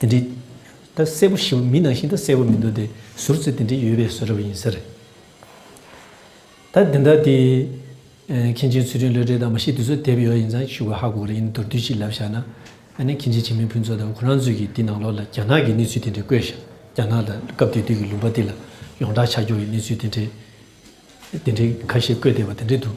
དེ་འདྲི། ད་གསལ་པོ་ཞིབ་མི་གནང་བཞིན་དུ་གསལ་པོ་མི་འདུག་དེ་ཟུར་ཚོད་དེ་འདྲི་ཡོད་པའི་བཟོ་རབ་ཡིན་ཟེར། ད་འདི་འདྲ་དེ། མཁན་ཆེན་ཚུལ་ཁྲིམས་བློ་གྲོས་དང་མ་གཞི་དེ་ཚོ་དེབ་ཡོད་ཡིན་ཙང་ཞུ་ག་ཧ་གོ་གི་རེད་ཡིན་ན་མདོར་བསྡུས་ཤིག་ལབ་བཞག་ན། ཨ་ནེ་མཁན་ཆེན་བྱེས་མའི་ཕུན་ཚོགས་དང་ཁོ་རང་ཚོས་ཀྱིས་འདི་ནང་ལོག་ལ་རྒྱ་ནག་གི་གནས་ཚུལ་དེ་འདྲི་བཀོད་བཞག་རྒྱ་ནག་ལ་སྐབས་དེ་དུས་ཀྱི་ལུང་པ་འདི་ལ་ཡོངས་གྲགས་ཆ་འཇོག་གི་གནས་ཚུལ་དེ་འདྲི་དེ་འདྲི་ཁ་ཤས་བཀོད་བསྡད་པ་དེ་འདྲི་འདུག།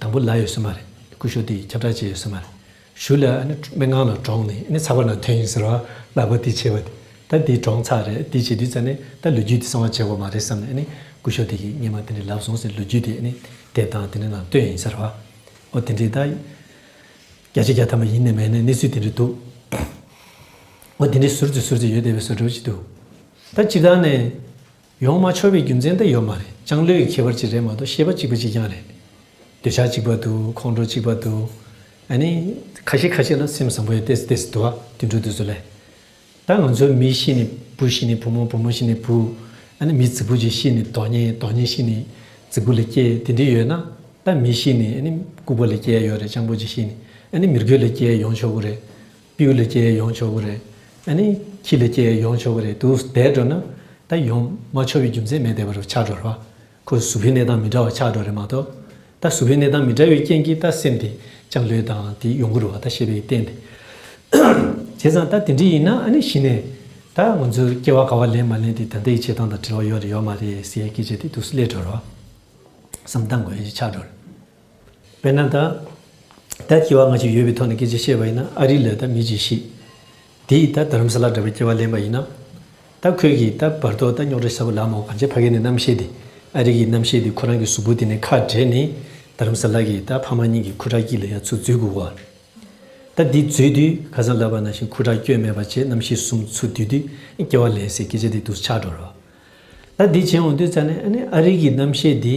དང་པོ་ལ་ཡོད་སྲོལ་མ་རེད། སྐུ་ཞོ་དེ་ཁྱབ་བསྒྲགས་བྱས་ཡོད་སྲོལ་མ་རེད། གཞུ་ལ་སྨན་ཁང་ལ་གྲོངས་ནས་ཚགས་པར་ནང་ཐོན་ཡིན་ཟེར་བ་ལག་པ་དེ་བྱས་པ་དེ་ད་དེ་གྲོངས་ཚར་རེད་དེ་བྱས་དུས་ཙམ་ནས་ད་ལོ་རྒྱུས་དེ་གསང་བ་བྱས་པ་མ་རེད་བསམ་ནས་སྐུ་ཞོ་དེ་གི་སྙེ་མ་དེ་འདྲས་ལབ་སོང་ཟེར་ལོ་རྒྱུས་དེ་དེབ་དང་དེ་འདྲས་ནང་བཏོན་ཡིན་ཟེར་བ་འོ་དེ་འདྲས་ད་བརྒྱ་ཆ་བརྒྱ་ཐ་མ་ཡིན་ནི་མེད་ནི་གནས་ཚུལ་དེ་འདྲས་འདུག་འོ་དེ་འདྲས་ཟུར་ཙི་ཟུར་ཙི་ཡོད་བསྡད་པའི་བཟོ་སྒྲུབ་ཅིག་འདུག་ད་སྤྱིར་བཏང་ནས་ཡོང་མ་ཆོག་པའི་རྒྱུ་མཚན་དེ་ཡོད་མ་རེད་ཅང་ལོས་ཡི་ཁྱད་པར་གཅིག་རེད་མ་གཏོགས་ཤེས་པ་གཅིག་པ་གཅིག་རྐྱང་རེད། འདོད་ཆགས་གཅིག་པ་འདུག་ཁོང་ཁྲོ་གཅིག་པ་འདུག་ཨ་ནི། ཁ་ཤས་ཁ་ཤས་ལ་སེམས་བཟང་པོ་ཡོད་དེ་སུ་དེ་སུ་དུ་བ་དུད་འགྲོ་དུད་སོ་ལས། ད་ང་ཚོའི་མི་གཤིས་ནི་བུ་གཤིས་ནི་བུ་མོ་བུ་མོ་གཤིས་ནི་བུ། ཨ་ནི་མི་རྫི་བུ་རྫི་གཤིས་ནི་རྡོ་རྙེད་རྡོ་རྙེད་གཤིས་ནི་རྫི་བུ་ལས་སྐྱེས་དེ་འདྲས་ཡོད་ན། ད་མི་གཤིས་ནི་ཨ་ནི་ལྐུགས་པ་ལས་སྐྱེས་ཡོད་རེད་ཅང་པོ་རྫི་གཤིས་ནི་ཨ་ནི་མི་རྒོད་ལས་སྐྱེས་ཡོང་ཆོག་གི་རེད། པིའུ་ལས་སྐྱེས་ཡོང་ཆོག་གི་རེད། ཨ་ནི། ཁྱི་ལས་སྐྱེས་ཡོང་ཆོག་གི་རེད་འདུག་བསྡད་འགྲོ་ན། ད་ཡོང་མ་ཆོག་པའི་རྒྱུ་མཚན་མེད་བསྡད་པ་རུ་ཆགས་འགྲོ་རེད། ཁོ་གཟུགས་པོའི་གནས་སྟངས་མི་འདྲ་བ་ཆགས་འགྲོ་རེད་མ་གཏོགས། ད་གཟུགས་པོའི་གནས་སྟངས་མི་འདྲ་བའི་རྐྱེན་གྱིས་ད་སེམས་དེ་ཅང་ལོས་དང་དེ་ཡོང་གི་རུ་བ་ད་ཤེས་པའི་རྟེན་དེ། བྱས་ཙང་ད་དེ་འདྲི་ཡིན་ན་ཨ་ནི་གཞི་ནས། ད་ང་ཚོའི་སྐྱེ་བ་ག་བ་ལེན་མ་ལེན་དེ་ད་ལྟའི་བྱེད་སྟངས་དང་འབྲེལ་བ་ཡོད་རེད་ཡོད་མ་རེད་ཟེར་ཡའི་སྐད་ཆ་དེ་དུས་སུ་སླེད་འགྲོ་རུ་བ། བསམ་སྟངས་འགོ་ཡའི་ཆགས་འགྲོ་རེད། བས་ན་ད། ད་སྐྱེ་བ་སྔ་ཕྱི་ཡོད་པའི་ཐོག་ནས་སྐད་ཆ་བཤད་པ་ཡིན་ན་ཨ་རི་ལོས་ད་མི་གྱིས་ཤིག། དེས་ད་དྷརམ་ས་ལ་འདྲ་བའི་སྐྱེ་བ་ལེན་པ་ཡིན་ན། ད་ཁོས་ཀྱིས་ད་བར་དོ་ད་རྙོག་དྲ་ས་བུ་ལ་མོ་གང་ཆེ་ཕ་གི་ནས་རྣམ་ཤེས་དེ་ཨ་རི་གི་རྣམ་ཤེས་དེ་ཁོ་རང་གི་གཟུགས་པོ་དེ་ནས་ཁ་བྲལ་ནས་དྷརམ་ས་ལ་གིས་ད་ཕ་མ་གཉིས་ཀྱི་ཁུ་ཁྲག་སྐྱིད་ལ་ཡ་མཚོ་འཛུལ་དགོས་བ། ད་འདི་འཛུལ་དུས་ཁ་སང་ལབ་པ་ན་བཞིན་ཁུ་ཁྲག་སྐྱོན་མེད་པ་བྱས་རྣམ་ཤེས་གསུམ་ཚུར་བསྡུས་དུས་སྐྱེ་བ་ལེན་སའི་སྐད་ཆ་དེ་དུ་ཆགས་འགྲོ་རོགས། ད་འདི་བྱས་འོང་དུས་ཙང་ནས་ཨ་རི་གི་རྣམ་ཤེས་དེ།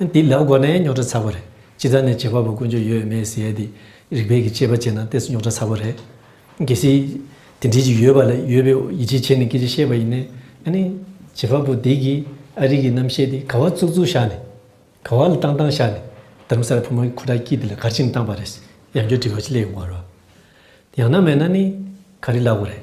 འདི་ལབ་དགོ་ནས་རྙོག་དྲ་ཚ་པོ་རེད་སྤྱི་ཚགས་ནས་བྱེད་པ་པོ་དཀོན་མཆོག་ཡོད་མེད་ཟེར་དེ་རིག་པའི་གི་དཔྱད་པ་བྱེད་ན་ལྟས་སུ་རྙོག་དྲ་ཚ་པོ་རེད་གལ་སྲིད་དེ་འདྲས་ཅིག་ཡོད་པ་ལ་ཡོད་པའི་ཡིད་ཆེས་བྱེད་ནས་སྐད་ཆ་བཤད་པ་ཡིན་ནའི་ནི་བྱེད་པ་པོ་དེ་གི་ཨ་རིག་གི་རྣམ་བཤད་དེ་ག་བ་བཙུག་བཙུག་བཞག་ནས་ག་བ་ལ་བཏང་བཏང་བཞག་ནས་དར་མ་སར་ཕོ་མོ་གི་ཁུ་དྲག་སྐྱིད་དེ་ལ་གར་ཅིག་ནས་བཏང་པ་རེད་ཡང་སྐྱོ་དྲི་བ་ཅིག་སླེ་ཡོང་བ་རོ་ཡང་ན་མེད་ན་ནི་ག་རེ་ལབ་དགོ་རེད།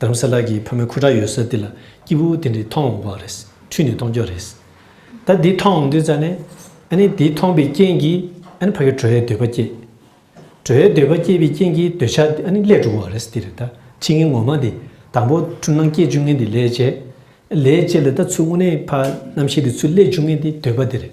བྲམ་ཟེ་ལགས་ཀྱིས་ཕ་མའི་ཁུ་ཁྲག་ཡོད་སར་འདི་ལ་སྐྱིད་པོ་དེ་འདྲའི་མཐོང་འོང་བ་རེད། འཁྲུལ་ནས་མཐོང་རྒྱུ་རེད། ད་འདི་མཐོང་འོང་དུས་ཙང་ནས། ཨཱ་དེ་མཐོང་པའི་རྐྱེན་གྱིས་ཨཱ་ཕ་གི་བྲོ་བའི་འདོད་པ་སྐྱེས། བྲོ་བའི་འདོད་པ་སྐྱེས་པའི་རྐྱེན་གྱིས་འདོད་ཆགས་འདི་ཨཱ་ནི་ལས་གྲུབ་བ་རེད་འདི་རེད་ད་ཕྱི་ངན་ངོ་མ་འདི་དང་པོ་འཁྲུལ་སྣང་སྐྱེས་བཅུ་ངན་འདི་ལས་བྱེད། ལས་བྱེད་ལ་ད་ཚུལ་དངོས་གནས་ཕ་རྣམ་ཤེས་འདི་ཚུལ་ལས་བཅུ་ངན་འདི་འདོད་པ་འདི་རེད།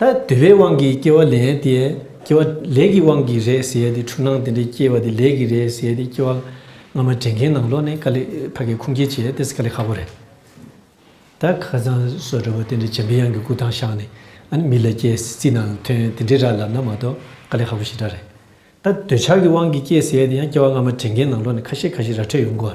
ད་དུ་བའི་དབང་གིས་སྐྱེ་བ་ལས་དེས་སྐྱེ་བ་ལས་ཀྱི་དབང་གིས་རེད་ཟེར་དེ་འཁྲུལ་སྣང་དེ་འདྲས་སྐྱེ་བ་དེ་ལས་ཀྱིས་རེད་ཟེར་དེ་སྐྱེ་བ་སྔ་མ་དྲན་མཁན་ནང་ལོག་ནས་ཀ་ལི་བྷ་གའི་ཁུངས་སྐྱེལ་བྱས་དེ་སི་ཀ་ལི་ཧ་བོ་རེད། ད་ཁ་ཚང་བཟོ་འདྲ་བོ་དེ་འདྲས་བྱེད་འབི་ཡང་གི་སྐུ་ཐང་བཞག་ནས་ཨ་ནི་མི་ལ་སྐྱེ་སི་ཙི་ནང་དོན་དེ་འདྲས་ར་ལབ་ན་མ་གཏོགས་ཀ་ལི་ཧ་བོ་ཞེ་དྲག་རེད། ད་འདོད་ཆགས་ཀྱི་དབང་གིས་སྐྱེ་ཟེར་དེ་ཡང་སྐྱེ་བ་སྔ་མ་དྲན་མཁན་ནང་ལོག་ནས་ཁ་ཤས་ཁ་ཤས་ར་འཕྲོད་ཡོང་གོ།